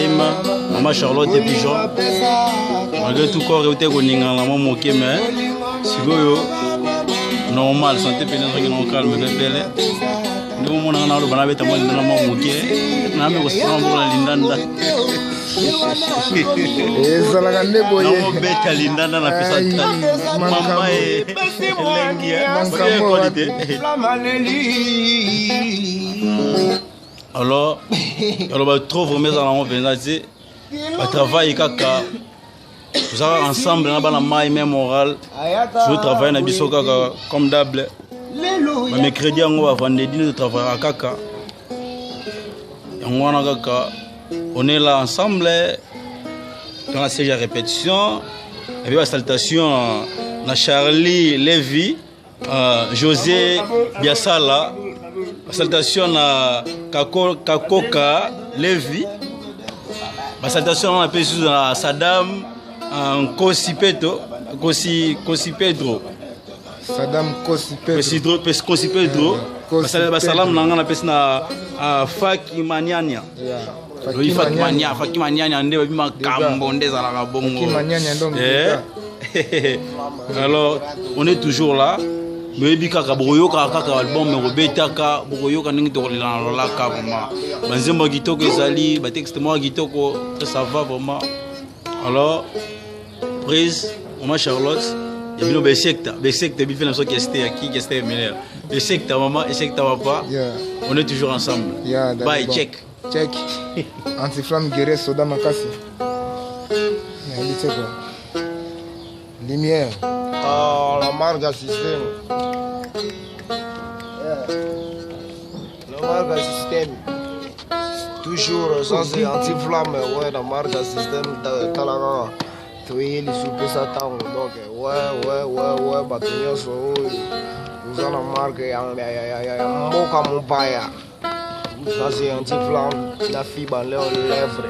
ema mama charlotte pigeon malgré tout corps euti ekoningana mwa moke me sikoyo normal sante mpene ezongi nango calme mpe pele ndenge omonaka na aloba nabeta mwa lindanda mwa moke nayambe kosala mbola lindanda ezalaka nde boyebeta lindanda na pesa mama elengi alors aloba trop vraiment eza nango mpenza te batravaille kaka tozalaka ensemble na bana mai mai moral tozotravaille na biso kaka comme dable bamecredi yango bavandredi nde totravaillaka kaka yango wana kaka on est là ensemble dans la série ya répétition epi basalutation na charlie levy Uh, José Biasala, salutation na Kako, Kakoka Levi, ba salutation na pe sous na Saddam uh, Nkosi Peto, Nkosi Nkosi Pedro. Saddam Nkosi Pedro. Nkosi Pedro, Nkosi Pedro. Nkosi Pedro. Ba salam na nga na pesi na uh, Faki Maniania. oyi fakimania fakimania nyande babi makambo nde ezalaka bongo eh? alors on est toujours là boyebi kaka bokoyokaka kaka album ekobetaka bokoyoka ndenge tokolela na lolaka vraiment banzembo ya kitoko ezali batexte moko ya kitoko ça va vraiment alors Praise, maman Charlotte, ya bino besekta besekta bife na soki este ya kiki este ya mineur besekta mama esekta papa Yeah. on est toujours ensemble Yeah, that's bye bon. check check antiflamme guerre soda makasi nayebi te kua lumière Ah, la marque ya système. Namarka système toujours sans anti flamme ouais namarka système tala kaka toyei lisusu pesa ntango donc ouais ouais ouais ouais bato nyonso oyo oza na marke ya mboka mopaya naze anti flamme na fiba leo lèvre